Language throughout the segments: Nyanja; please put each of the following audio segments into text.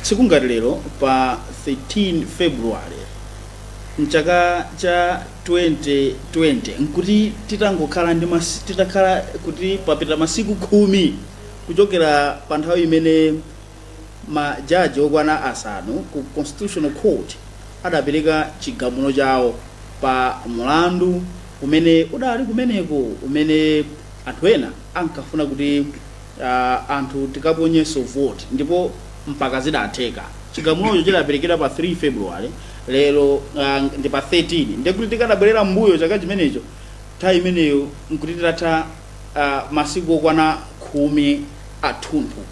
Tsiku ngati lero pa 13 February mchaka cha 2020 nkuti titangokhala ndi ma, titakhala kuti papita masiku khumi kuchokera pa nthawi imene majaji okwana asanu ku Constitutional Court adapereka chigamulo chawo pa mulandu umene udali kumeneko umene anthu ena ankafuna kuti uh anthu tikaponyeso vote ndipo mpaka zidatheka chigamulocho chidaperekedwa pa 3 february lero uh, ndi pa 13 ndiye kuti tikadabwerera m'mbuyo chaka chimenecho nthawi imeneyo nkuti titatha uh, masiku okwana khumi athunthu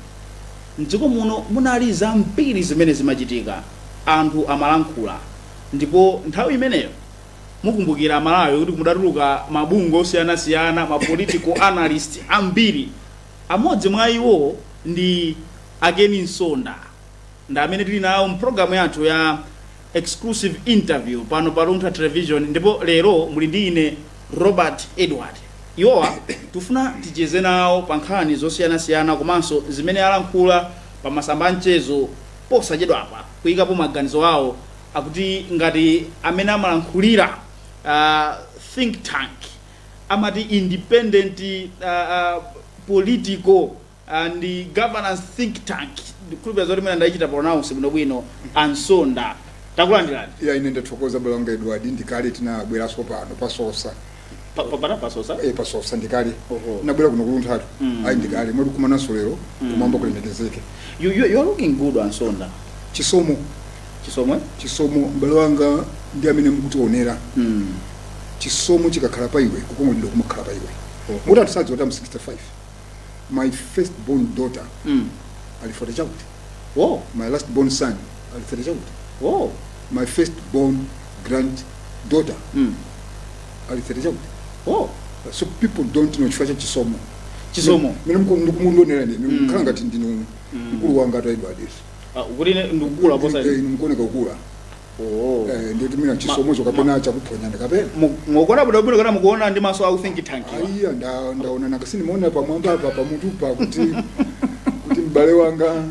mdziko muno munali zambiri zimene zimachitika anthu amalankhula ndipo nthawi imeneyo mukumbukira amalawi kuti kudatuluka mabungwe osiyanasiyana ma political analyst ambiri amodzi mwa iwo ndi a Ken Msonda ndi amene tili nawo mu pulogalamu yathu ya exclusive interview pano pa luntha television ndipo lero muli ndi ine robert edward iwowa tifuna ticheze nawo pa nkhani zosiyanasiyana komanso zimene alankhula pa masamba a mchezo posachedwapa kuyikapo maganizo awo akuti ngati amene amalankhulira a think tank amati independent a, a, political and governance think tank ndikhulupira zoti mmene ndaichita pronounce bwinobwino a Msonda takulandirani ya ine ndathokoza m'bale wanga edward ndikale tinabweraso pano pasosa Pa- pa- pana pasosa eh, pasosa ndikale Oho. nabwera kuno kulunthatu Mm. ayi ndikale moti tikumananso lero kumwamba kulemekezeke you, you, you are looking good a Msonda chisomo chisomo chisomo m'bale wanga ndiye mmene mukutionera mm. chisomo chikakhala pa iwe kukongolidwa kumakhala pa iwe Oho. moti anthu sadziwa kuti am 65 my first born daughter Mm. ali forty chakuti Oh. my last born son ali thirty chakuti Oh. my first born grand daughter Mm. ali thirty chakuti Oh. so people don't know chifukwa cha chisomo Chisomo. mene mukundionera ine Mm. mukhala ngati ndinu mkulu wanga a Edward Ah, kuti ine ndikukula posa. mukuoneka kukula Oh. Eh, ndiye kuti mwina chisomocho kapena chakuphonya ndi kapena Mu- Mukuona bwino bwino kapena mukuona ndi maso a u think tank. iwa? aiya nda- ndaona nakasini mwaona pamwamba apa pamutupa kuti kuti m'bale wanga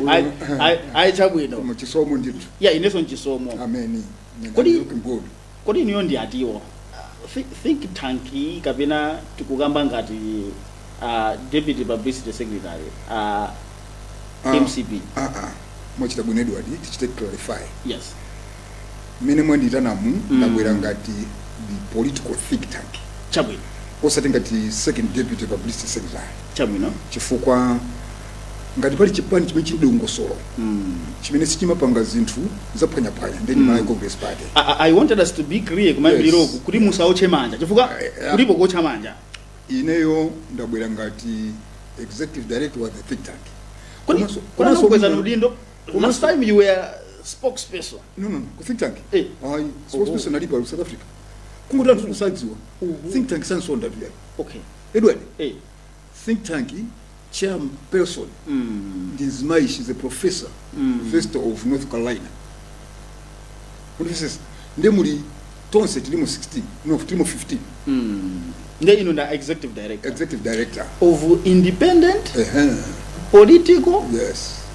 Ai ai ai chabwino. nchisomo ndithu Yeah, ineso nchisomo. ameni Kodi- Good. Kodi inuyo ndi atiwa? Thi think tank yi kapena tikukamba ngati a deputy publicity secretary a Ah, mcp? ah, ah. Mwachita bwino Edward, tichite clarify. Yes. Mmene mwandiitanamu Mm. ndabwera ngati the political think tank. Chabwino. Osati ngati second deputy publicity secretary. Chabwino. Chifukwa ngati pali chipani chimene chili ndi dongosolo chimene sichimapanga zinthu zaphwanyaphwanya ndi malawi congress party I, I- I wanted us to be clear kumayambiriro Yes. kuti musaotche manja chifukwa Eh, eh. kulipo kuotcha manja ineyo ndabwera ngati executive director wa the think tank kodi Komanso- kodi komanso- anakukweza udindo last komanso- time you were spokesperson no no no ku think tank Eh. ayi spokesperson alipo ali ku south africa kungoti anthu kusadziwa think tank a Sonda apa okay edward eh think tank chair person ndi mzimayi she's a professor university of north carolina Professors, nde muli tonse tilimo 16 no tilimo 15 nde inu nda executive director executive director of independent Uh-huh. political Yes.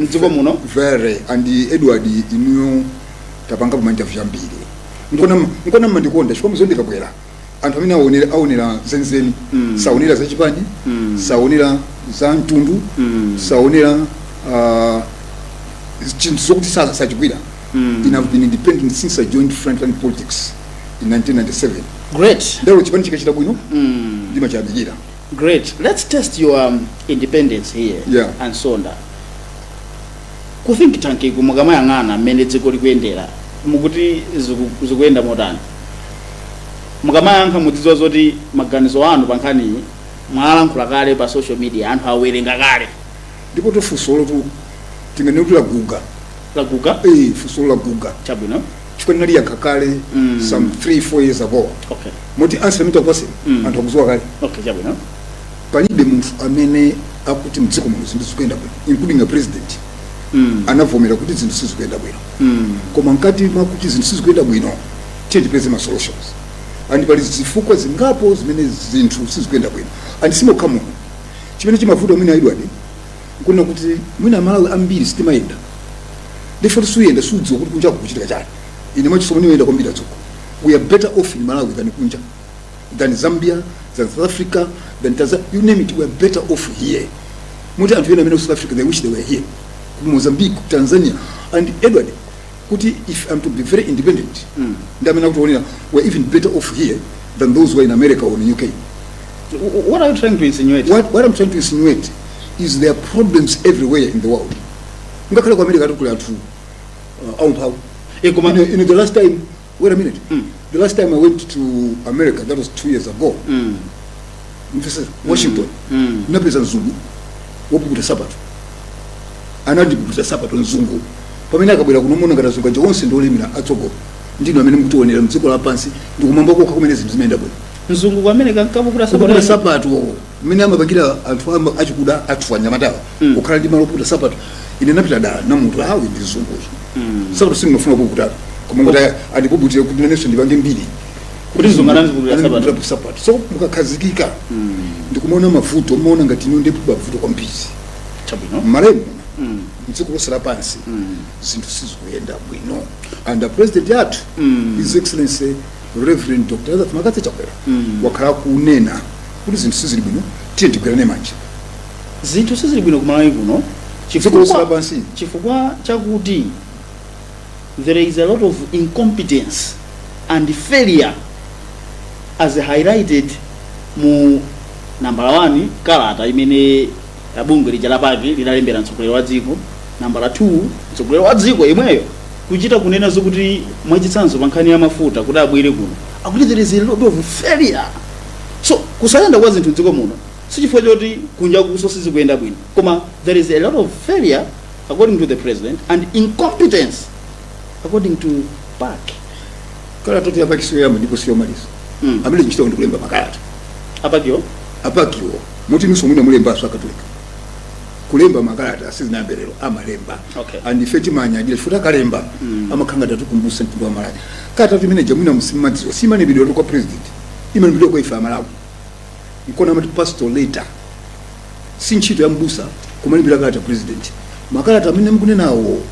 mdziko muno very and edward inuyo tapangapo ma interview ambiri Ndikona- nkona mmandikonda chifukwa mudziwa ndikabwera anthu amene aonera aonera zenizeni Mm. saonera za chipani Mm. saonera za mtundu Mm. saonera ah, chinthu zokuti sa- sachigwira Mm. ine have been independent since i joined frontline politics in 1997 great ndiye chipani chikachita bwino Mm. ndimachiyamikira Great. Let's test your um, independence here. Yeah. A Sonda. Ku think tank iku mukamayang'ana mmene dziko likuyendera mukuti ziku- zikuyenda motani mukamayankha mudzidziwa zoti maganizo anu pa nkhaniyi mwalankhula kale pa social media anthu awerenga kale ndipotu funso lotu tinganene kuti laguga laguga eh funso laguga chabwino chifukwa ndinaliyankha kale Mm. some 3 4 years ago okay moti answer mwina kwache Mm. anthu akudziwa kale okay chabwino palibe munthu amene akuti mdziko muno zinthu zikuyenda bwino including a president mm. anavomera kuti zinthu sizikuyenda bwino mm. koma mkati mwakuti zinthu sizikuyenda bwino tiyeni tipeze ma solutions and pali zifukwa zingapo zimene zinthu sizikuyenda bwino and simokha muno chimene chimavuta mwina edward nkunena kuti mwina amalawi ambiri sitimayenda therefore suyenda sudziwa kuti kunja kukuchitika chani ine mwachisomo nimayenda kwambiri atsogo we are better off in malawi than kunja than zambia than south africa than tanzania you name it we are better off here moti anthu ena amene ali ku south africa they wish they were here ku mozambique ku tanzania and edward kuti if I'm to be very independent mm. ndi amene akutionera we're even better off here than those who are in America or in UK what are you trying to insinuate what, what I'm trying to insinuate is there are problems everywhere in the world ngakhale ku America tikuli athu uh, aumphawi e koma in, in the last time wait a minute Mm. the last time i went to america that was two years ago Mm. mfesa washington Mm. ndinapeza mzungu wopukuta sapato anandipukuta sapato mzungu pamene akabwera kuno mumaona ngati azungu aja onse ndiolemera atsogo ndinu amene mukutionera mdziko lapansi ndikumwamba kokha kumene zinthu zimayenda bwino mzungu ku America ankapukuta kupukuta sapato sapato mmene amapangira anthu am- achikuda athu anyamatawa kukhala ndi malo opukuta sapato ine ndinapita dala namunthu ali ndi mzungu sapato sindimafuna kupukuta koma kuti andipukutire kuti nanenso ndipange mbiri Kuti mzungu anandipukutira sapato. Anandipukutira sapato so mukakhazikika ndikumaona mavuto mumaona ngati kuno ndi pa mavuto kwambiri chabwino mwaulemu mdziko lonse lapansi zinthu sizikuyenda bwino and the president wathu his excellency reverend dr lazarus mccarthy chakwera wakhala kunena kuti zinthu sizili bwino tiye tigwirane manja zinthu sizili bwino kumalawi kuno Dziko lonse lapansi. chifukwa- chifukwa chakuti there is a lot of incompetence and failure as highlighted mu nambala 1 kalata imene bungwe lija la pac lidalembera mtsogoleri wa dziko nambala 2 mtsogoleri wa dziko yemweyo kuchita kunena zokuti mwachitsanzo pa nkhani ya mafuta kuti abwere kuno akuti there is a lot of failure so kusayenda kwa zinthu mdziko muno sichifukwa choti kunjakunso sizikuyenda bwino koma there is a lot of failure according to the president and incompetence according to pac kalata yoti a pac siyoyamba ndipo siyomaliza Mm. amene ntchito ndi kulemba makalata a pac-wo muti inunso mwina amalembanso akatolika kulemba makalata sizinayambe lero amalemba Okay. and ife timanyadira chifukwa akalemba amakhala ngati atikumbutsa mtundu wa malawi kalata imene ija mwina musimadziwa simalembedwa kwa president imalembedwa kwa ife amalawi nkona amati pastoral letter si ntchito ya mbusa kumalembera kalata president makalata amene mukunenawo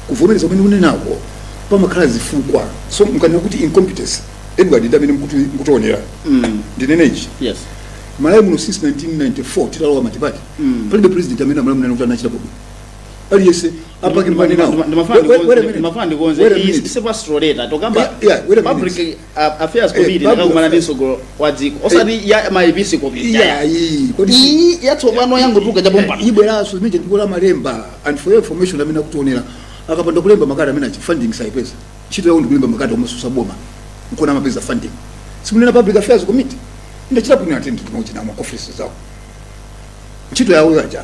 kuvomereza kumene mukunenawo pamakhala zifukwa so mukanena kuti incompetence edward ndi amene akuti- akutionera Mm. ndinene ichi Yes. malawi muno since 1994 titalowa matipati Mm. palibe president amene amalawi anena kuti anachita bwino aliyense a pac Ndima- ndima- ndimafuna ndikonze- ndimafuna ndikonze. Iyi si pastoral letter, tikukamba public- a- affairs committee public atakakumana ndi affairs. mtsogoleri wa dziko osati ya maepiskopi iyayi kodi iyi yatsopano yangotuluka chapompano ibweranso zimene ndikuyamba kulemba and for your information amene akutionera akapanda kulemba makalata amene aja funding saipeza ntchito yawo ndikulemba makalata omatsutsa boma nkona amapeza funding si mukunena public affairs committee ndachita kuwa attend tinali ku ma offices awo ntchito yawo yaja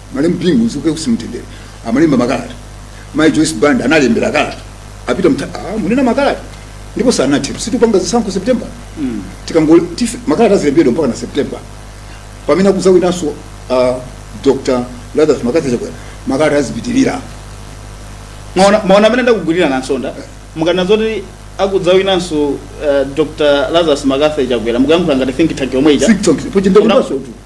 malemu bingu mzimu wake uwuse mumtendere amalemba makalata mai joyce banda analembera kalata a peter mta ah, munena makalata ndipo sanathe si tikupanga zisankho september mm. tikango tife- makalata azilembedwa mpaka na september pamene akudzawinanso uh, dr lazarus mccarthy chakwera makalata azipitirira Mwaona- mwaona mmene ndakugwirira nansonga mukanena zoti akudzawinanso uh, dr lazarus mccarthy chakwera mukuyankhula ngati think tank yomwe ija Think tank, pochita Una- kubaso tu.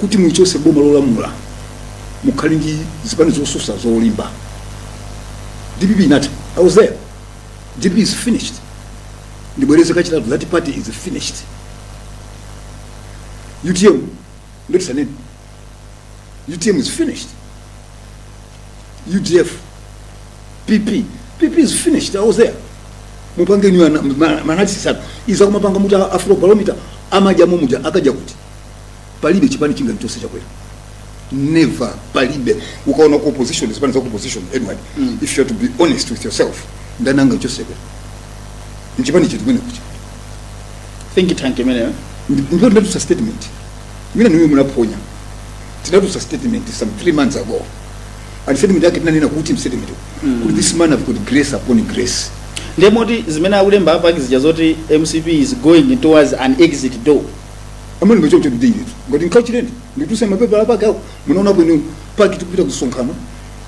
kuti mulichotse boma lolamula mukhale ndi zipani zotsutsa zolimba dpp inatha i was there dpp is finished ndibwereze kachitatu that party is finished utm ndiye tisanene utm is finished udf pp pp is finished i was there mupange inuyo analysis anu izi akumapanga muti afro barometer amajama uja akaja kuti palibe chipani chingamchotse chakwera never palibe ukaona ku opposition zipani za ku opposition edward Mm. if you are to be honest with yourself ndani angamchotse nchipani chiti kwene kucha think tank imeneyo ndipo tinatulutsa statement imene niwe munaphonya tinatulutsa statement some three months ago and statement yake tinanena kuti mstatement Mm. kuti this man have got grace upon grace ndiye moti zimene akulemba apa zija zoti mcp is going towards an exit door amene ngochocho ndiyetu ngati nkachireni nditulutse mapepala pake ako munaona bwino pac tikupita kusonkhano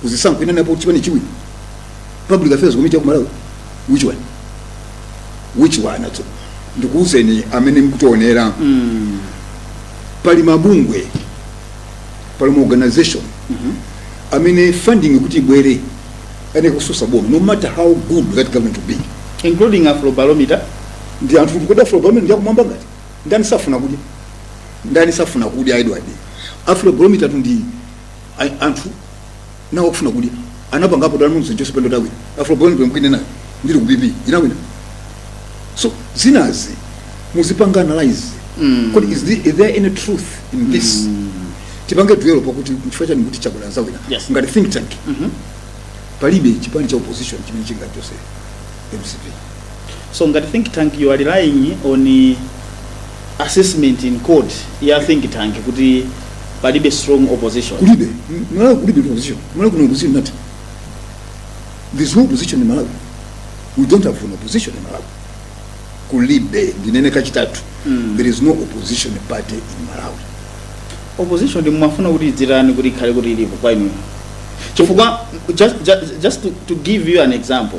kuzisankho inanenapo chipani chiwiri public affairs committee ya kumalawi which one which one atso ndikuuzeni amene mkutionera pali mabungwe pali ma organization amene funding kuti ibwere ayenera kutsutsa boma no matter how good that government will be including afrobarometer ndi anthu kuti kodi afrobarometer ndiyakumwamba ngati ndani safuna kudya ndani safuna kudya edward afrobarometer ndi a- anthu nawo kufuna kudya anapangapo dala mumzi joyce banda adzawina afrobarometer nthawi imeneyo ndili ku pp inawina so zinazi muzipanga analyze Mm. kodi is, the, is there any truth in this mm. tipange dwell pakuti chifukwa chani kuti chakwera adzawina Yes. ngati think tank Mhm. palibe chipani cha opposition chimene chingachotse mcp so ngati think tank you are relying on eh, assessment in quotes ya think tank kuti palibe strong opposition kulibe M- malawi kulibe opposition malawi kuna opposition nati there's no opposition in malawi we don't have an opposition in malawi kulibe ndinene kachitatu Mm. there is no opposition party in malawi opposition mumafuna kuti idzitani kuti ikhale kuti ilipo kwa inuyo chifukwa just, just, just to, to give you an example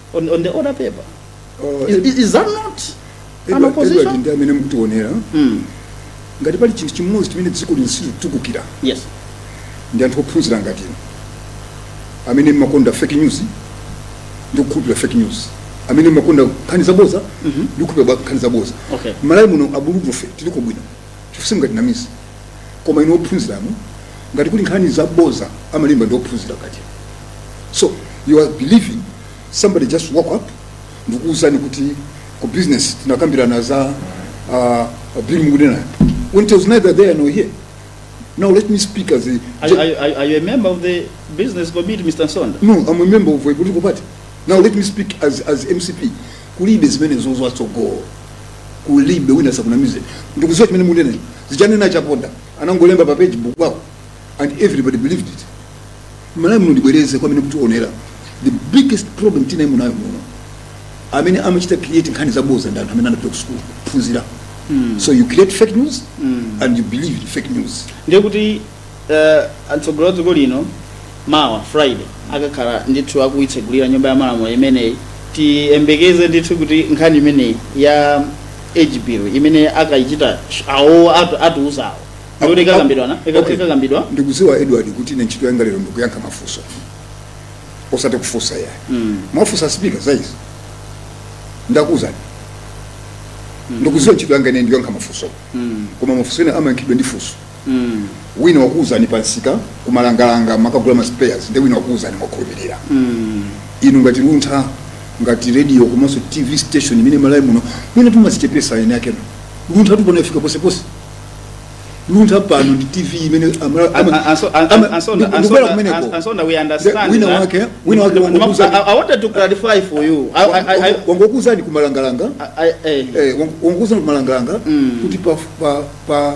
on, on the order paper. Oh, Is, is, is that not an Edward- opposition? Edward ndi amene mukutiwonera Mm. ngati pali chinthu chimodzi chimene dziko lino silikutukukira Yes. ndi anthu ophunzira ngati inu amene mmakonda fake news ndi kukhulupirira fake news amene mmakonda nkhani zaboza ndi kukhulupirira bwa- nkhani zaboza Okay. malawi muno abulutufe tiliko bwino chifukwa simungatinamize koma inu ophunziranu ngati kuli nkhani zaboza amalemba ndi ophunzira kaja so you are believing somebody just woke up ndikuwuzani kuti ku business tinakambirana za uh, bill mukunena when it was neither there nor here now let me speak as a Are, you- are, you- are, you- are you a member of the business committee, Mr. Msonda? no i'm a member of a political party now let me speak as, as mcp kulibe zimenezo za tsogolo kulibe wina sakunamize ndikuziwa chimene munena za chanena Chaponda anangolemba pa facebook wawo and everybody believed it malawi muno ndibwereze komwene kuti onera the biggest problem tinayi tili nayo muno amene amachita create nkhani zaboza ndi anthu amene anapita kusukulu kuphunzira so you create fake news and you believe in fake news ndiye kuti uh, atsogoleri wa dziko lino mawa friday akakhala ndithu akuitsegulira nyumba ya malamulo imeneyi tiyembekeze ndithu kuti nkhani imeneyi ya age bill imene akayichita awo atu- atiuzawo ndikuti ikakambidwa na Ika- Okay. ikakambidwa ndikuziwa edward kuti ine ntchito yanga lero ndikuyankha mafunso osati kufunsa ayi Mm. mwafunsa spika za izi ndakuuzani ndikuziwa ntchito yanga ine ndi kuyankha mafunso Mm. koma mafunso ena amayankhidwa ndi funso wina wakuuzani pa msika kumalangalanga mukagula ma spares nde wina wakuuzani mwakhulupirira inu ngati luntha ngati radio komanso tv station imene malawi muno mwina timazichepesa eni akenu luntha tu pano ifika posepose luntha pano ndi tv imene amala- And- ama- and so- and- ama- and so- ndi- and so- ndikubwera kumeneko. and- and so now we understand wina that- wake wina wake I, wangokuuzani I wanted to clarify for you. I, I, I, I, wangokuuzani kumalangalanga I, I, eh, wangokuuzani kumalangalanga Mm. kuti pa- pa- pa-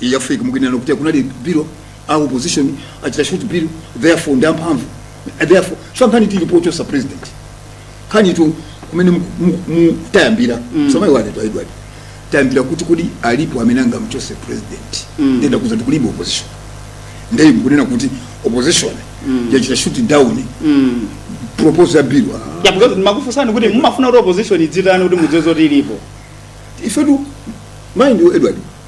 iyi africa mukuinena kuti kunali bill a opposition achita shoot bill therefore ndi amphamvu therefore so nkhani tili pochosa president nkhani tu kumene mu- mu- mu- tayambira so my worry to edward tayambira kuti kodi alipo amene angamchose president nde ndakuuzani kuti kulibe opposition nde inu mukunena kuti opposition yachita shoot down proposal ya bill ah. Yeah, because ndimakufunsani kuti mumafuna kuti opposition idzitani kuti mudziwe zoti ilipo ifetu mind you edward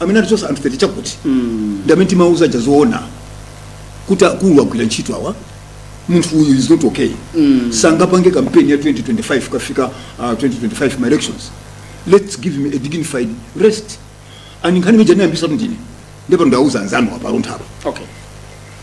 amene anatichosa anthu 30 chakuti ndi amene timauza aja zoona kuti akulu agwira ntchito awa munthu uyu is not okay sangapange kampeni ya 2025 kafika uh, 2025 ma elections let's give him a dignified rest and nkhani imene ija anayambisa tu ndine nde pano ndauza anzanu apalunthapo okay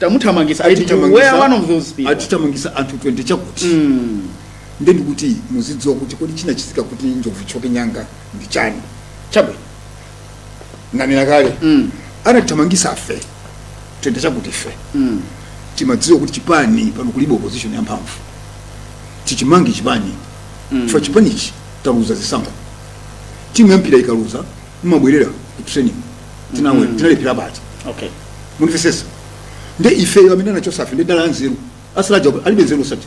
tamuthamangisa ati we are one of those people anatithamangisa anthu 20 chakuti mm. nde ndikuti muzidziwa kuti kodi chinachitika kuti njovu ithyoke nyanga ndi chani chabwino nanena kale mm. anatithamangisa ife 20 chakuti ife mm. timadziwa kuti chipani pano kulibe opposition yamphamvu tichimange chipani mm. chifukwa chipanichi taluza zisankho timu yampira ikaluza mumabwerera ku training tinawe tinalephera bati okay mundimvetsetsa nde ifeyo amene anachotsa ife ndi dala anzeru atsala aja alibe nzeru osati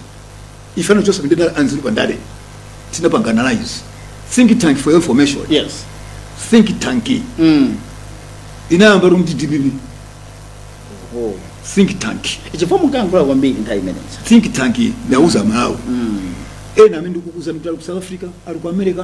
ife anachotsa ife ndi dala anzeru pa ndale tinapanga analyze think tank for your information yes think tank mm. inayambira mu dpp oh. think tank chifukwa mukangola kwambiri nthawi imeneyo think tank ndauza malawi mm. ena amene ndikukuuza mtu ali ku south africa ali ku america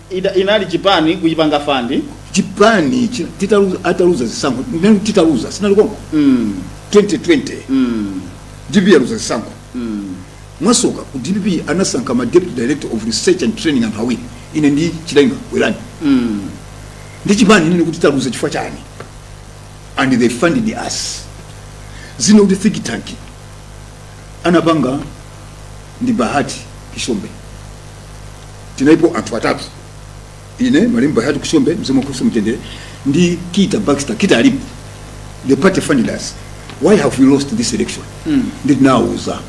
Idea inali chipani kutipanga fund. Chipani ichi titaluza ataluza zisankho nenu titaluza sinali konko mm. 2020 mm. DPP yaluza zisankho mm. mwasoka ku DPP anasankha ma deputy director of research and training anthu awiri ine ndi chilenga werani mm. ndi chipani nini kuti taluza chifukwa chani and they funded us zino kuti think tank anapanga ndi bahati kishombe tinalipo anthu atatu ine malemu bahati kishombe mzimu wake uuse mumtendere ndi kita baxter kita alipo the party funded us why have we lost this election mm. ndinawuza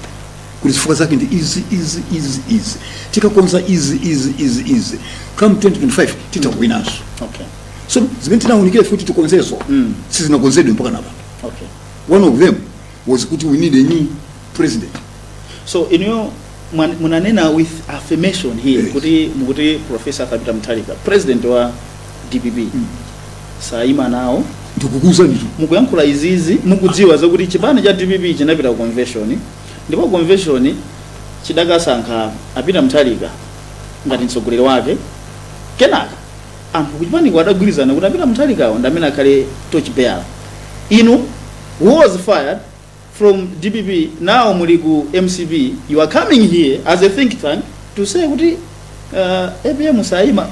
kuti zifukwa zake ndi izi izi izi izi tikakonza izi izi izi izi come 2025 titha kuwinanso okay so zimene tinawunikira kuti tikonzezo mm. sizinakonzedwe mpakana apa okay one of them was kuti we need a new president so inuyo mwan- munanena with affirmation here Yes. kuti mukuti profesa arthur peter mutharika president wa dpp Mm. sayima nawo ndikukuuza nditu mukuyankhula izizi mukudziwa zakuti chipani cha dpp chinapita ku convention ndipo convention chidakasankha a peter mutharika ngati mtsogoleri wake kenaka Anthu kuchipaniko adagwirizana kuti Apita Munthalikawa ndi amene akhale torch bearer. Inu who was fired from dpp now muli ku mcp you are coming here as a think tank to say kuti uh, apm sayima.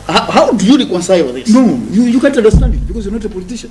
How, how do you reconcile this? No, you, you can't understand it because you're not a politician.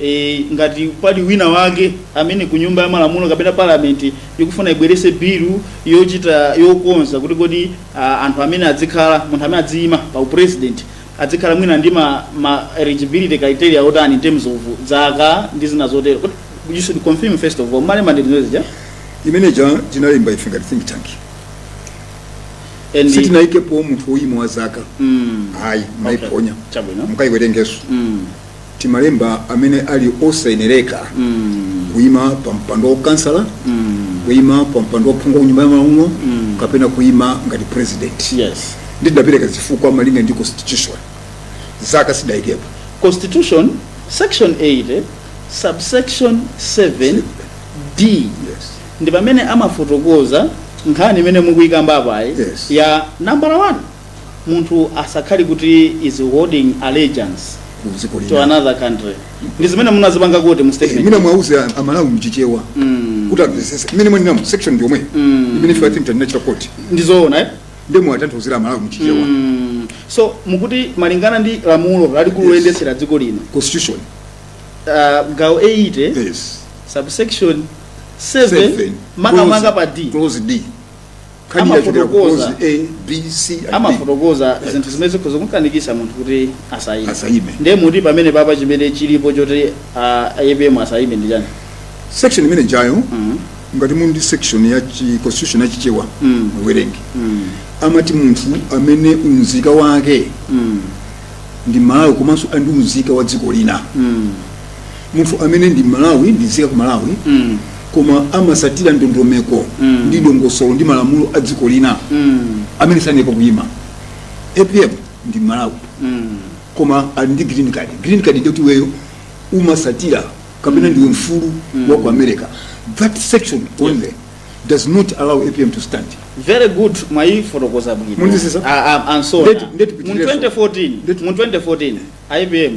e, ngati pali wina wake amene ku nyumba ya malamulo kapena parliament ikufuna ibweretse bill yochita yokonza kuti kodi a, anthu amene adzikhala munthu amene adziyima pa upresident adzikhala mwina ndi ma, ma eligibility criteria otani in terms of zaka ndi zina zotero Kodi you should confirm first of all male mandate zimene zija imene ja tinalemba ife ngati think tank and sitinayikepo munthu woyima wa zaka mm, ayi okay. mwayiponya chabwino mukayiwerengenso mm. timalemba amene ali osayenereka kuima pa mpando wa ukansala kuima pa mpando wa uphungu wa ku nyumba ya malamulo kapena kuima ngati president yes ndidapereka zifukwa malinga ndi constitution zaka sidaikepo constitution section 80 subsection 7 d yes. ndi pamene amafotokoza nkhani imene mukuyikamba apayi Yes. ya nambala 1 munthu asakhale kuti is holding allegiance ku dziko lina another country ndi zimene munazipanga kuti mu Eh, statement ndiye muwauze a- amalawi mchichewa Mm. kuti amvesese imene munenayo section ndiyomweyo Mm. imene ife think tinachita quote ndizoona eh? nde muwatanthauzire amalawi mchichewa mm. so mukuti malingana ndi lamulo lalikulu Yes. loyendetsera dziko lino constitution uh, gawo 80 yes subsection 7 Seven. makamaka Clause- pa d clause d nkhani yachokera ku Amafotokoza. konzi a b c and D. amafotokoza zinthu zimene zikhoza kumkanikisa munthu kuti asayime Asayime. ndiye muti pamene papa chimene chilipo choti ah, apm asayime ndi chani section imene ijayo Mhm. ngati muli ndi section ya chi- constitution ya chichewa Mm. muwerenge Mm. amati munthu amene unzika wake Mm. ndi malawi komanso ali ndi unzika wa dziko lina Mm. munthu amene ndi mmalawi ndi nzika ya ku malawi mm. koma amasatira ndondomeko mm. ndi dongosolo ndi malamulo a dziko lina mm. amene sayeneka kuyima apm ndi mmalawi mm. koma ali ndi green card green card ndi kuti iweyo umasatira kapena ndiwe mfulu mm. wa ku america that section only yes. does not allow apm to stand very good mwayifotokoza bwino mu 2014 mu 2014 apm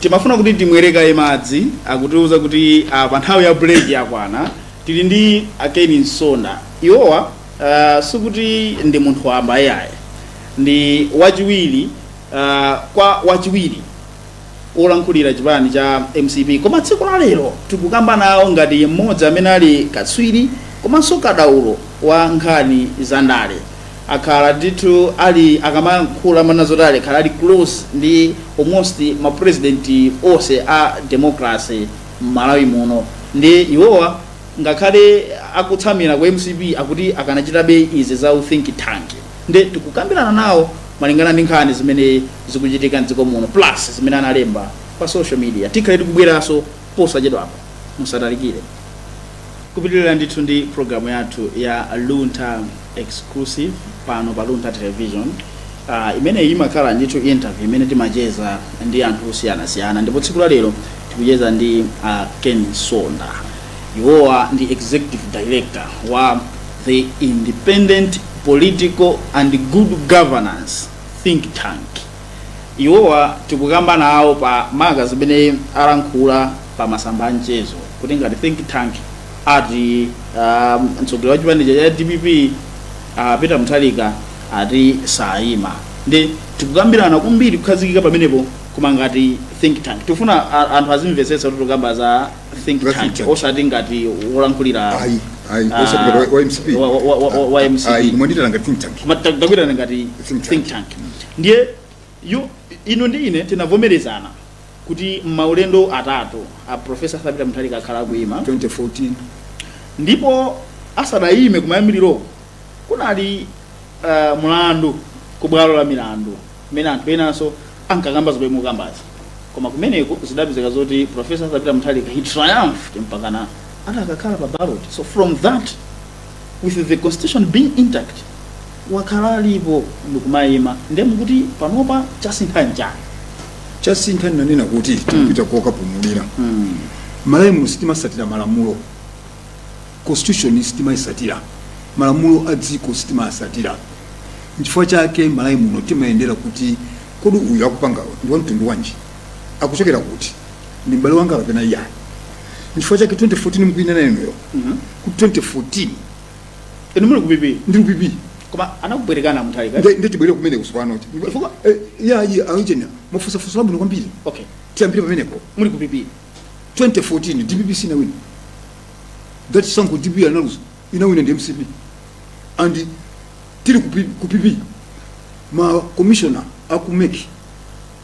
Timafuna kuti timwere kaye madzi akutiuza kuti apa nthawi ya break yakwana. Tili ndi a Ken Msonda. Iwowa uh, sikuti ndi munthu wamba iyaye. Ndi wachiwiri uh, kwa wachiwiri wolankhulira chipani cha mcp koma tsiku la lero tikukamba nawo ngati mmodzi amene ali katswiri komanso kadaulo wa nkhani za ndale akhala ndithu ali akamayankhula amanena zoti anakhala ali close ndi almost ma president onse a democracy mmalawi muno nde iwowa ngakhale akutsamira ku mcp akuti akanachitabe izi za u think tank nde tikukambirana nawo malingana ndi nkhani zimene zikuchitika mdziko muno plus zimene analemba pa social media tikhale tikubweranso posachedwapo musatalikire Kupitilira ndithu ndi program yathu ya Luntha Exclusive pano pa Luntha Television. Uh, imeneyi imakhala ndithu interview imene timacheza ndi anthu osiyanasiyana ndipo tsiku la lero tikucheza ndi uh, Ken Msonda. Iwowa ndi executive director wa the Independent Political and Good Governance Think Tank. iwowa tikukamba nawo pa maka zimene alankhula pa masamba a mchezo kuti ngati think tank ati um, mtsogoleri wa chipani cha dpp uh, peter mutharika ati sayima nde tikukambirana kwambiri kukhazikika pamenepo koma ngati think tank tifuna a- anthu azimvetsetsa kuti tikukamba za think tank osati ngati wolankhulira ayi ayi Ah, osati ngati wa- wa- wa- wa MCP ayi mwandiitana ngati think tank Koma ta- takuitanani ngati think tank Ndiye, yu, inu ndi ine tinavomerezana kuti mmaulendo atatu a Professor Arthur Peter Mutharika akhala akuima, 2014. Ndipo asadaime kumayambiriroko, kunali, uh, mlandu ku bwalo la milandu kumene anthu enanso ankakamba zomwe mukukambazi. Koma kumeneko zidapezeka zoti Professor Arthur Peter Mutharika he triumphed mpakana adakakhala pa ballot. So from that. with the constitution being intact wakhala alipo ndikumayima nde mukuti panopa chasintha nchani chasintha nanena kuti tikupita kokapumulira malawi muno sitimatsatira malamulo constitution sitimayitsatira malamulo a dziko sitimawatsatira nchifukwa chake malawi muno timayendera kuti kodi uyu akupanga ndi wamtundu wanji akuchokera kuti ndi m'bale wanga kapena iyayi nchifukwa chake 2014 mukuyinena inuyo ku 2014 inu muli ku pp ndi upipi koma anakubwerekana muthalika Nde- nde tibwere kumene kusopano chifukwa eh, iyayi aujeni mwafunsa funso labwino kwambiri okay tiyambire pamenepo muli ku pp 2014 dpp sinawina chisankho dpp analuza inawina ndi mcp and tili ku P- ku pp ma commissioner aku mec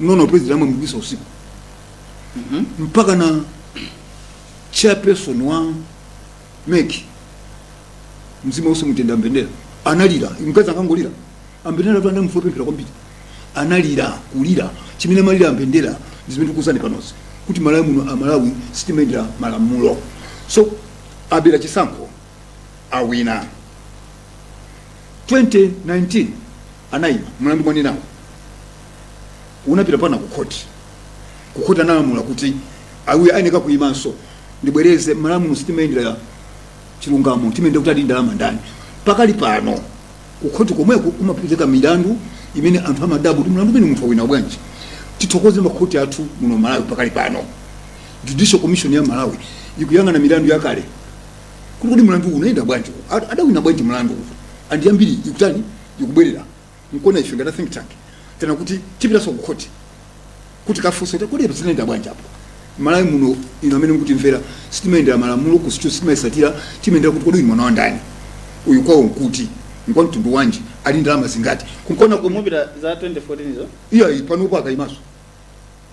nona president anamugwetsa usiku mpakana chairperson wa mec mzimu wawo uwuse mumtendere mbendera analira mukadziwa anangolira ambendera panda munthu wopemphera kwambiri analira kulira chimene amalira ambendera zimene tikukuuzani panozi kuti malawi muno amalawi sitimayendera malamulo so abera chisankho awina 2019 anayima mlandu mwanenawo unapita mpakana kukhoti kukhoti analamula kuti awiri ayeneka kuyimanso ndibwereze malamulo sitimayendera chilungamo timayendera kuti ali ndi ndalama ndani pakali pano kukhoti komweko kumapezeka milandu imene anthu amadabwa kuti mlandu umenewu munthu awina bwanji tithokoze makhoti athu muno malawi pakali pano judicial commission ya malawi ikuyang'ana milandu yakale kuti kuti mlandu unayenda bwanji Ad- adawina bwanji mlandu anthu ambiri ikutani ikubwerera nkuona ife ngati think tank tena kuti tipitaso ku court kuti kafunse kuti kodi zinayenda bwanji apa malawi muno ino amene mukutimvera sitimayendera malamulo constitution sitimayisatira timayendera kuti kodi uyu mwana wa ndani uyu kwawo nkuti ngwa mtundu wanji ali ndalama zingati nkuona kuti mupita za 2014 zo iyayi panopo akayimaso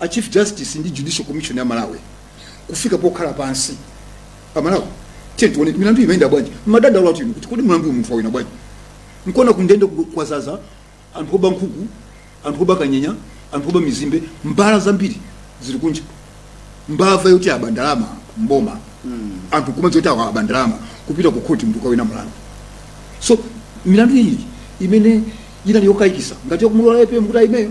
A Chief Justice ndi Judicial Commission ya Malawi kufika pokhala pansi. A Malawi, tiyeni tione milandu imayenda bwanji. Mmadandaula inu kuti kodi mlandu uyu munthu wawina bwanji? Nkuona kundende ku- kwazaza anthu oba nkhuku, anthu oba kanyenya, anthu oba mizimbe, mbava zambiri zili kunja. Mbava yoti aba ndalama mboma. Anthu kumadziwa zoti awa aba ndalama kupita ku khoti munthu kawina mlandu. So milandu iyi imene inali yokayikitsa ngati yakumulola APM kuti ayimeyo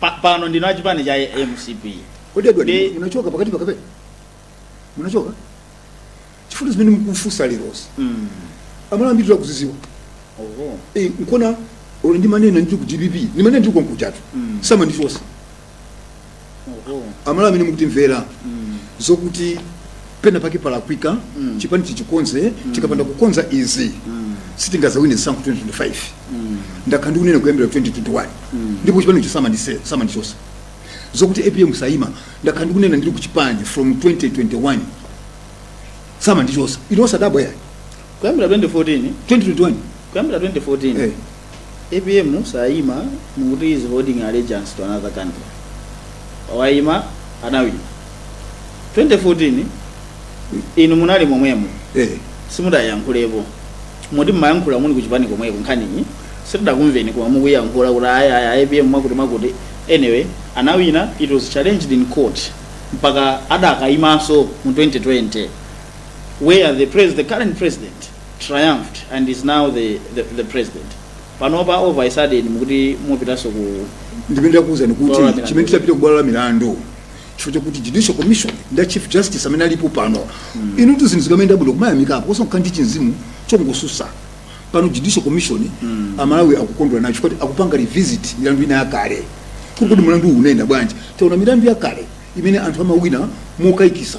Pa- pano ndinu a chipani cha mcp kodi edward Ndi- munachoka pakati pakape munachoka chifukwa zimene mukufunsa lerosi Mm. aMalawi ambiri akuziziwa Oho. Eh, nkuona olo ndimanena ndili ku dpp ndimanena ndili komkujatu Mm. samandichosa Oho. aMalawi amene mukutimvera Mm. zokuti pena pake palakwika mm. chipani tichikonze mm. tikapanda kukonza izi mm. sitingazawine chisankho 2025 mm. ndakhala ndikunena kuyambira 2021 mm. ndipo chipani icho samandi samandichosa zokuti apm sayima ndakhala ndikunena ndili kuchipani from 2021 samandichosa inu osadabwa ayi kuyambira 2014 2021 kuyambira 2014 eh. Apm sayima mukuti is holding allegiance to another country wayima anawina 2014 inu munali momwemo Eh, simudayankhulapo muti mmayankhula muli kuchipani komweko nkhaniyi sitidakumveni koma mukuyankhula kuti ayi ayi ayi apm mwakuti mwakuti anyway anawina it was challenged in court mpaka adakayimanso mu 2020 where the, pres the current president triumphed and is now the, the, the president panopa all of a sudden mukuti mupitaso ku ndimene ndakuwuzani Bwalo la kuti milandu. chimene tidapita kubwalo la milandu chifukwa chakuti judicial commission ndi a chief justice amene alipo pano inutu zinthu zikamayenda bwino kumayamikapo osangokhala ndi chimzimu chongosusa pano judicial commission amalawi akukondwera nacho kuti akupanga revisit milandu ina yakale kuti mulandu uwu unayenda bwanji taona milandu yakale imene anthu amawina mokayikisa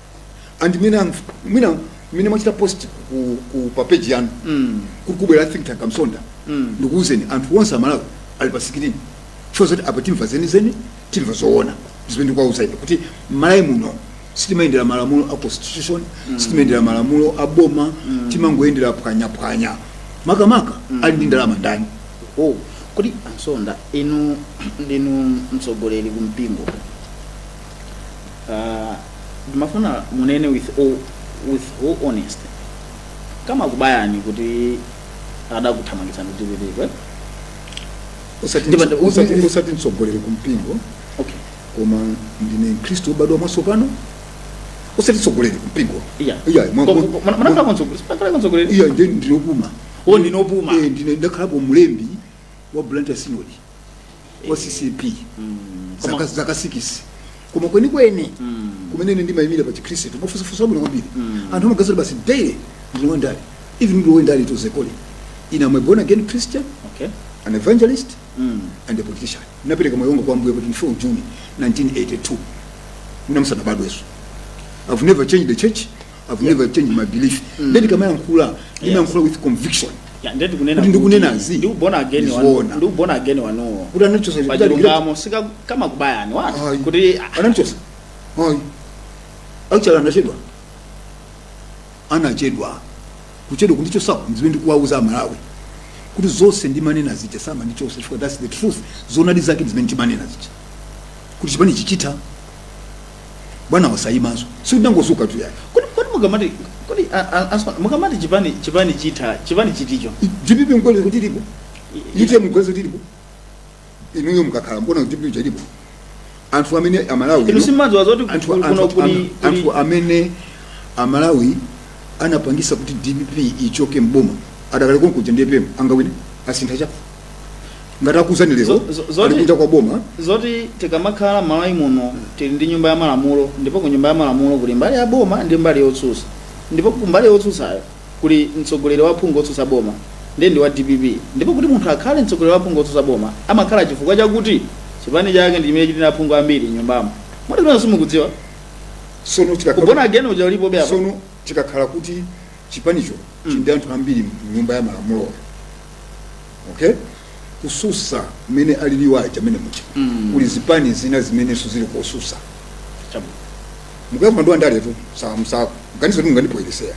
and mwina mwina mwina mwachita post ku, ku pa page yanu mm. kuti kubwera think tank amsonda mm. ndikuuzeni anthu onse amalawi ali pa sikirini sure zoti apa timva zenizeni timva zoona zimene ndikuwauza ife kuti malawi muno sitimayendera malamulo a constitution mm. sitimayendera malamulo a boma mm. timangoyendera phwanyaphwanya makamaka mm. ali ndi ndalama ndani oh kodi ansonda inu ndinu mtsogoleri kumpingo Uh, ndimafuna munene with all, with all honesty kamakubayani kuti adakuthamangitsani kuti kutikwe Usati- Ndipo- usati- ndipo- usati mtsogoleri kumpingo okay koma ndine mkhristu wobadwa mwatsopano usati mtsogoleri kumpingo iya Iya, mwa- Ko- ko- ko- mwa- munakhalako mtsogoleri munakhalako mtsogoleri iya nde ndine opuma Oh, ndinu opuma. Eh, ndine ndakhalapo mlembi wa blantyre synod wa ccap zaka zaka sikisi koma kwenikweni kumene ine ndimayimira pa chikhristu mwafunsa funso labwino kwambiri anthu amaganiza basi daily ndine wandale even ndi wandale to the core ine am a born again christian okay an evangelist and a politician napereka moyo wanga kwa ambuye pa 24 juni 1982 inu musanabadwenso i've never changed the church I've yeah. never changed my belief mm. nde ndikamayankhula yes. yankhula with conviction yeah ndikunena ndikunenazi ndi born again wanu ndi born again wanu kuti anachotsa pachilungamo sikamakubayani wa kuti anachotsa hoy actually anachedwa anachedwa kuchedwa kundichotsa zimene ndikuwauza amalawi kuti zonse ndimanena zija samandichotsa chifukwa that's the truth zonadi zake zimene ndimanena zija kuti chipanichi chitha bwanawa asayimenso sindinangodzukatu ayi kodi kodi mukamati kodi a- a- asma- mukamati chipani chipani chitha chipani chiticho dpp mukuona zoti ilipo ite mukuona zoti ilipo inuyo mukakhala mukuona dpp ilipo anthu amene amalawi inu simumadziwa zoti anthu, kuno anthu, kuli anthu, kuli anthu amene amalawi anapangisa kuti dpp ichoke mboma adakali konkuja ndiye apm angawine asintha chapa ngati akuuzani lero Zo- zo- zoti- ali kunja kwa boma zoti tikamakhala malawi muno tili ndi nyumba ya malamulo ndipo ku nyumba ya malamulo kuli mbali ya boma ndi mbali yotsutsa ndipo ku mbali yotsutsayo kuli mtsogoleri wa aphungu otsutsa boma ndi ndi wa dpp ndipo kuti munthu akhale mtsogoleri wa aphungu otsutsa boma amakhala chifukwa chakuti chipani chake ndi chimene chili ndi aphungu ambiri mnyumbamo moti kuna simukudziwa sono chikakhala u born again uja ulipobe apa sono chikakhala kuti chipanicho chili ndi anthu ambiri mnyumba ya malamulo okay kotsutsa mmene aliliwo aja mmenemuja kuli zipani zina zimenenso zili kotsutsa Chabwino. mukuyankhula ndi wandaletu musamaganize kuti mungandipoyeresera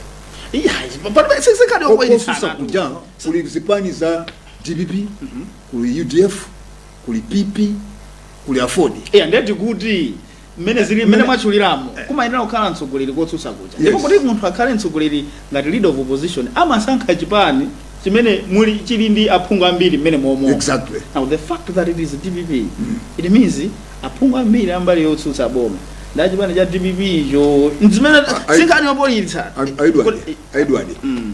Iya, palibe sizikali kotsutsa okuyitana. kuja kuli zipani za dpp kuli udf kuli pp kuli aford Iya, ndati kuti mmene Zili mmene mmene- mwatchuliramo Eh. kumayenera kukhala mtsogoleri kotsutsa kuja Yes. ndipo kuti munthu akhale mtsogoleri ngati leader of opposition amasankha chipani chimene muli chili ndi aphungu ambiri mmenemomo exactly now the fact that it is dpp it means aphungu ambiri ambali yotsutsa boma ndi achipani cha dpp icho zimene I- sinkhani yopolitsa A- a edward Kuti- a edward Mm.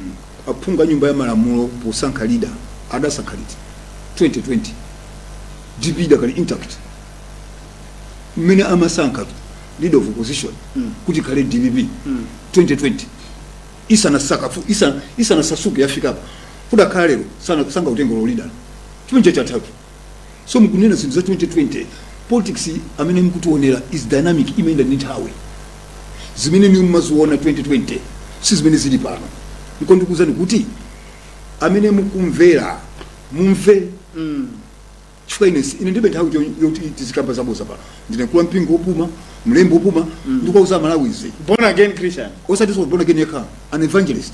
aphungu a nyumba ya malamulo posankha leader adasankha liti 2020 dp idakali intact mmene amasankha leader of opposition kuti khale dpp 2020 isanasakafu isa- isanasasuke yafikapo kudakhala kuti lero sana- sangautenge u leader chipani chachatatu so mukunena zinthu za 2020 politics amene mukutiwonera is dynamic imayenda ndi nthawi zimene inuyo mumaziona 2020 si zimene zili pano ndiko ndikuwuzani kuti amene mukumvera mumve chifukwa ine si- ine ndibe nthawi cho- yoti tizikamba zaboza pano ndine mkulu wa mpingo wopuma mlembi wopuma ndikuwauza amalawi izi born again christian osati za born again yekha an evangelist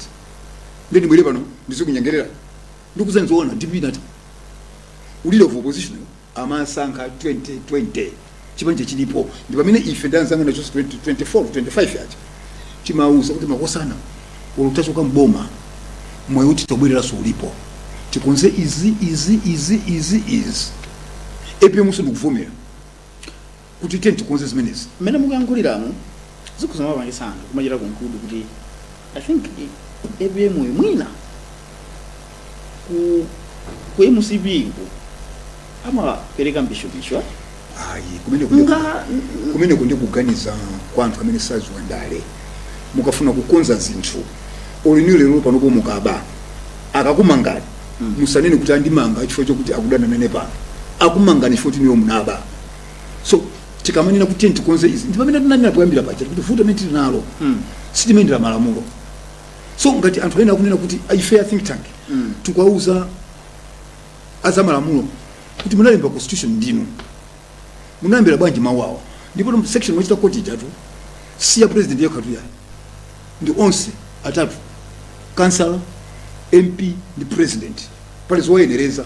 nde ndibwere pano ndizikunyengerera ndikuuzani zoona dpp inati leader of opposition amasankha 2020 chipani chilipo ndi pamene ife ndi anzanga tonse 20 24 25 aja timauza kuti makosana olo tachoka mboma mwayi woti tobwereranso ulipo tikonze izi izi izi izi izi apm nso ndikuvomera kuti tiye tikonze zimenezi mmene mukuyankhuliramo zikhoza kumapangisa anthu kumachita konkudu kuti I think apm uyu mwina ku ku mcp uku amapereka mbishobisho eh? ayi kumene kuli- nga kumeneko nde kuganiza kwa anthu amene saziwa ndale mukafuna kukonza zinthu olo inuyo lero panopo mukaba akakumangani musanene kuti andimanga chifukwa chokuti akudana nanu pano akumangani chifukwa choti inuyo munaba so tikamanena kuti tiyeni tikonze izi ndi pamene tinanena poyambira paja kuti vuto limene tili nalo Mm. sitikuyendera malamulo so ngati anthu ena akunena kuti "Ah, ife a think tank Mm. tikwauza azamalamulo kuti munalemba constitution ndinu munayambira bwanji mawu awo ndipo mu section yakuti yakutiyotu si ya president yekha tu yayi ndi onse atatu kansala mp ndi president pali zowayenereza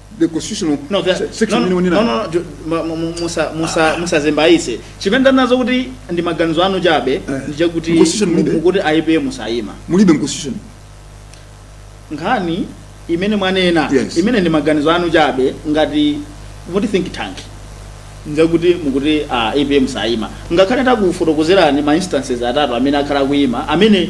the constitutional No, that- se- section no, imene no, wanena no, no, ju- ma- ma- mu- musa- musa- musazembayise chimene ndanena zokuti ndi maganizo anu chabe Eh. nchakuti Constitution mulibe. kuti apm sayima mulibe mu constitution nkhani imene mwanena Yes. imene ndi maganizo anu chabe ngati muti think tank nchakuti mukuti ah, apm sayima ngakhale takufotokozerani ma instances atatu amene akhala akuyima amene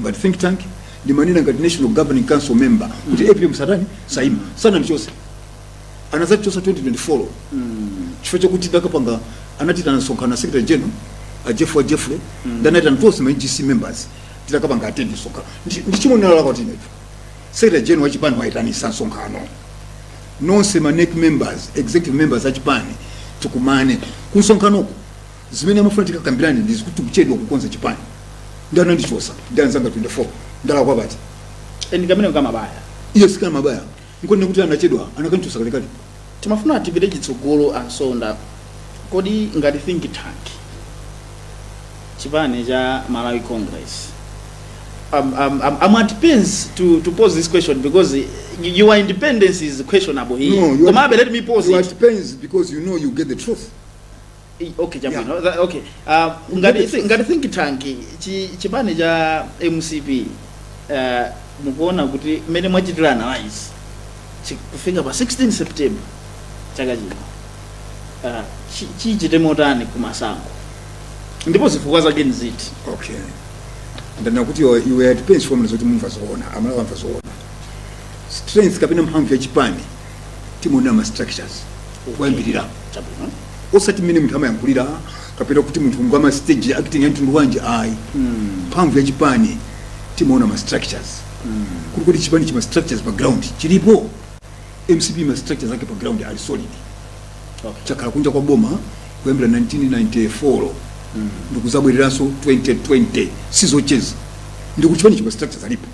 ngati think tank ndimanena ngati national governing council member kuti apm satani saima sanandichose anazandichosa 2024 chifukwa chakuti tidakapanga anatiitana msonkhano secretary general a jeffrey jeffrey nde anaitana tonse ma ngc members tidakapanga attend msonkhano Ndi- ndi chimwe tinalakwa ifetu secretary general wa chipani waitanisa msonkhano nonse ma NEC members executive members a chipani tikumane ku msonkhanoko zimene amafuna tikakambirane ndi zakuti kuchedwa kukonza chipani ndi anandichosa ndi anzanga 24 ndalakwa pati ndi kamene kamabaya yes kamabaya nkunena kuti anachedwa akanamchosa kalekale timafuna tipite chitsogolo a Msonda kodi ngati think tank chipani cha malawi congress um, um, um, i'm at pains to, to pose this question because y- your independence is questionable here No, you are- komabe let me pose you are at pains because you know you get the truth I- okay chabwino Tha- okay Ah, ngati thi- ngati think tank chi- chipani cha mcp eh, mukuona kuti mmene mwachitira analyze chi- kufika pa 16 september chaka chino ah, chi- chichite motani kumasankho ndipo zifukwa zake ndi ziti okay ndanena kuti you are- you are at pains chifukwa choti mumva zoona amalawi amva zoona strength kapena mphamvu ya chipani timaona ma structures kuyambirira chabwino osati mmene munthu amayankhulira kapena kuti munthu ngwa stage acting ya mtundu wanji ayi mphamvu ya chipani timaona ma structures kuti kodi chipani chima structures pa ground chilipo mcp ma structures ake pa ground ali solid Okay. chakhala kunja kwa boma kuyambira 1994 ndikuzabwereranso 2020 sizocheza ndikuti chipani chima structures alipo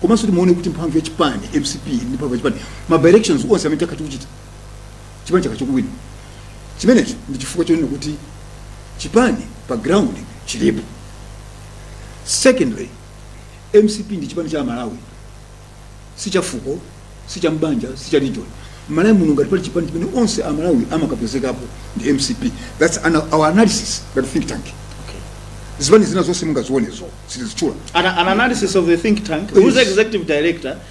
komanso timaona kuti mphamvu ya chipani mcp ndi mphamvu ya chipani ma by elections onse amene takhala tikuchita chipani chakhala chikuwina chimenecho ndi chifukwa chonena kuti chipani pa ground chilipo secondly mcp ndi chipani cha malawi si cha fuko si cha mbanja si cha region malawi muno ngati pali chipani chimene onse a malawi amakapezekapo ndi mcp that's an, our analysis ngati think tank Okay. zipani zina zonse mungazionezo sitizitchula An, an analysis of the think tank, whose Yes. executive director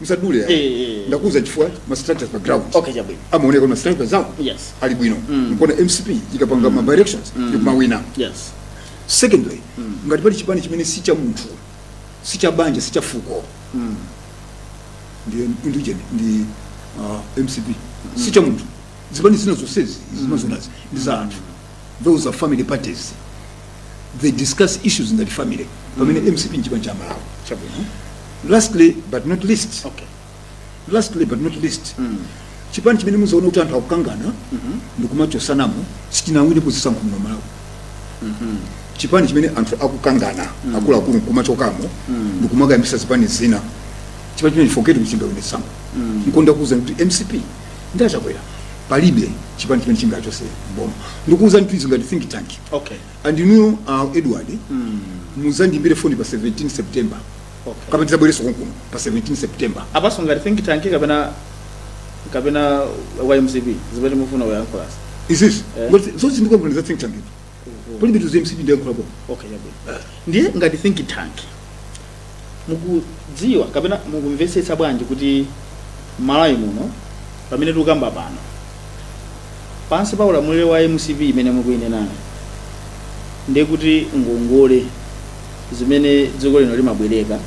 musadule ya Eh, eh. ndakuuzani chifukwa ma structures pa ground Okay, chabwino. amaoneka ma structures zawo Yes. ali bwino nkuona mcp ikapanga ma by elections ikumawina yes secondly ngati pali chipani chimene si cha munthu si cha banja si cha fuko ndi indigen ndi uh, mcp si cha munthu zipani zina zonsezi mukuzionazi ndi za anthu those are family parties they discuss issues ngati family pamene mcp nchipani cha malawi chabwino lastly but not least okay lastly but not least chipani chimene muzaona kuti anthu akukangana ndikumachosanamo sichingawine zisankho muno malawi chipani chimene anthu akukangana akuluakulu nkumachokamo ndikumakayambisa zipani zina chipani chimenecho forget kuti chingawine chisankho nkona ndakuwuzani kuti mcp ndi achakwera palibe chipani chimene chingachose mboma ndikuwuzanitu izi ngati think tank okay and you know uh, edward mm. muzandimbire foni pa 17 september okay kapena tizabwerenso konkuno pa 17 september apanso ngati think tank kapena kapena ymcp zimene mufuna uyankhulazo izizi Eh. ngoti zonse ndikukuwuzani za think tank palibe tuzi mcp ndiyankhula boma okay yabwino ndiye ngati think tank mukudziwa kapena mukumvetsetsa bwanji kuti malawi muno pamene tikukamba pano pansi pa ulamuliro wa mcp imene mukuinenayo ndiye kuti ngongole zimene dziko lino limabwereka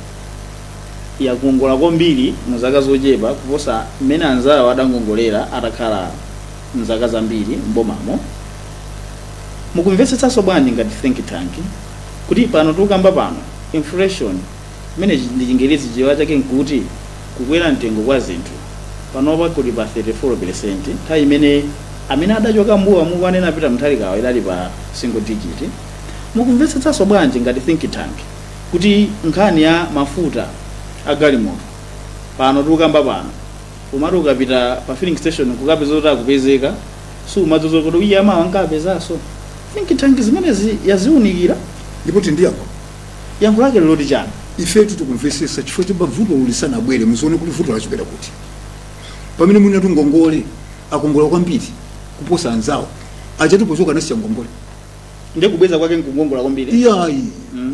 yakongola kwambiri mu zaka zochepa kuposa mmene anzawo adangongolera atakhala mzaka zambiri m'bomamo mukumvetsetsanso bwanji ngati think tank kuti pano tikukamba pano inflation imene chi- ndi chingerezi chichewa chake nkuti kukwera mtengo kwa zinthu panopa kuli pa 34 percent nthawi imene amene adachoka m'boma mukuwanena peter mutharikawa idali pa single digit mukumvetsetsanso bwanji ngati think tank kuti nkhani ya mafuta a galimoto pano tikukamba pano Umati ukapita pa filling station nkukapeza kuti akupezeka sumadziwa kuti ayi mawa nkapezaso. Think tank zimenezi yaziunikira? Ndipo tili ndi yankho? Yankho lake ndi loti chani? Ifetu tikumvetsetsa chifukwa choyamba vutolo lisanabwere muzione kuti vuto lachokera kuti. Pamene munenatu ngongole akongola kwambiri kuposa anzawo ajatu pochoka anasiya ngongole. Ndiye kubweza kwake nkungongola kwambiri? Iyayi,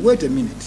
wait a minute.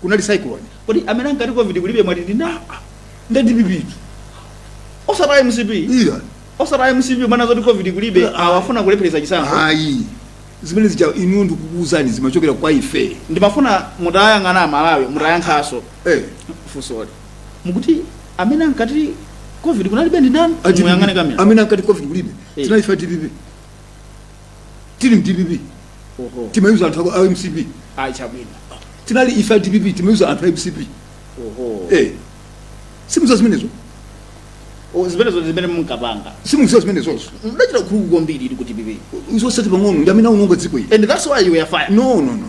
kunali cyclone kodi amene ankati covid kulibe mwati ndi ndani ndi dpptu osati mcp iya osati mcp imanena zoti covid kulibe Yeah. amafuna kulephereza chisankho ayi zimene zija inu ndikukuuzani zimachokera kwa ife ndimafuna mutayang'ana amalawi mutayankhaso eh fusoli mukuti amene ankati covid kunalibe ndi ndani muyang'ane kamera amene ankati covid kulibe Eh. tinali ife a dpp tili mu dpp oho timayuza anthu aku- a mcp ayi chabwino tinali ife a dpp timayuza anthu a mcp oho eh simuziwa zimenezo O, zimenezo zimene munkapanga simuziwa zimenezozo mudachita ukuluku kwambiri muli ku dpp osati pang'ono ndi amene aononga dziko ili and that's why you were fired no no no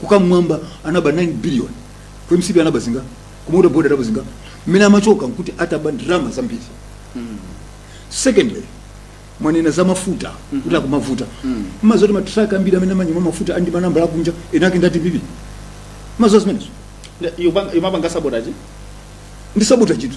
ku kammwamba anaba 9 billion ku msb anaba zinga ku water board anaba zinga mmene amachoka nkuti ataba ndalama zambiri secondly mwanena za mafuta kuti akumavuta mmaziwa zoti matraka ambiri amene amanyamula mafuta andi manambala akunja enake nda dpp mmaziwa zimenezo imapanga sabotage ndi sabotage tu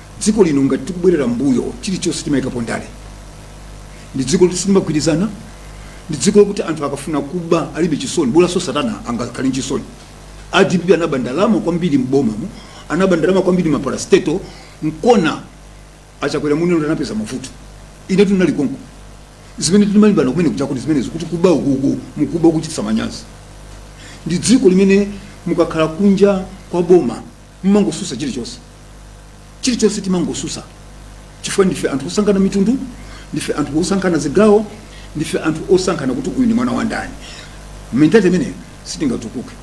dziko lino ngati tikubwerera mbuyo chilichonse timayikapo ndale ndi dziko loti silimagwirizana ndi dziko lokuti anthu akafuna kuba alibe chisoni bolanso satana angakhale ndi chisoni a dpp anaba ndalama kwambiri m'bomamo anaba ndalama kwambiri mma parastatal nkona a chakwera muno ndo anapeza mavuto ine tinali konko zimene timalimbana kumene kuja kuti zimenezo kuti kuba ukuku mukuba ukuchititsa manyazi ndi dziko limene mukakhala kunja kwa boma Mumangosusa chilichonse. Chilichonse timangosusa chifukwa ndife anthu osankhana mitundu, ndife anthu osankhana zigawo, ndife anthu osankhana kuti uyu ndi mwana wa ndani. Mentality imeneyo sitingatukuke.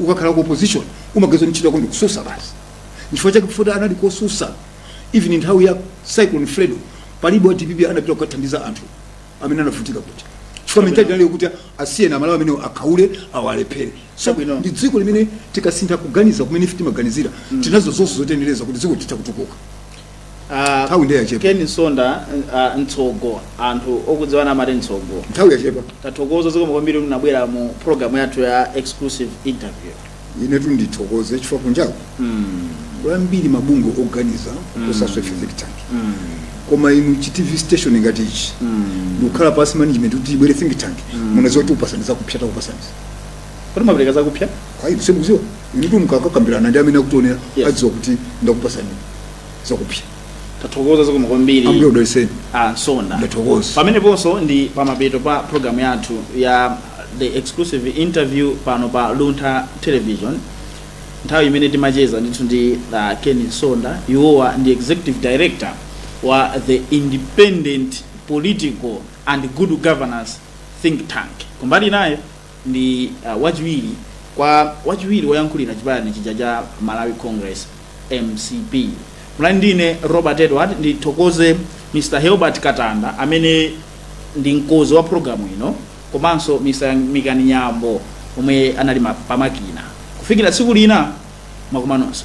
Ukakhala ku opposition umaganiza kuti ntchito yako ndi kususa basi. Nchifukwa chake pofuna anali kususa even nthawi ya Cyclone Fredo palibe wa dpp anapita kukathandiza anthu amene anavutika kuja chifukwa mentality inali yokuti asiyeni amalawi amene akhaule awalephere so Chabwino. ndi dziko limene tikasintha kuganiza kumene ife timaganiza tinazo zonse zotiyenereza kuti dziko litha kutukuka Ah, Nthawi ndiye yachepa. Ken Msonda ah, mtsogo anthu okudziwana amati mtsogo nthawi yachepa tathokoza zikomo kwambiri kuti munabwera mu program yathu ya exclusive interview inetu ndithokoze chifukwa kunjako kuli ambiri mabungwe oganiza kuposanso ife think tank koma inu chi tv station ngati ichi ndikukhala pasi management kuti ibwere think tank munaziwa kuti tikupasani zakupsa takupasani zakuti timapereka zakupsa ayi semuziwa inutu mukakakambirana ndi amene akutionera Yeah. adziwa kuti ndakupasani zakupsa tathokoza zikomo kwambiri ambuye akudaliseni a msonda ndathokoza pameneponso ndi pamapeto pa programu yathu ya the exclusive interview pano pa luntha television nthawi imene timacheza ndithu ndi uh, ken msonda iwowa ndi executive director wa the independent political and good governance think tank kumbali inayo ndi uh, wachiwiri kwa wachiwiri woyankhulira chipani chija cha malawi congress mcp mulani ndine robert edward ndithokoze mr helbert katanda amene ndi mkozi wa programu ino komanso mr mikani nyambo omwe anali ma- pamakina kufikira tsiku lina pokumananso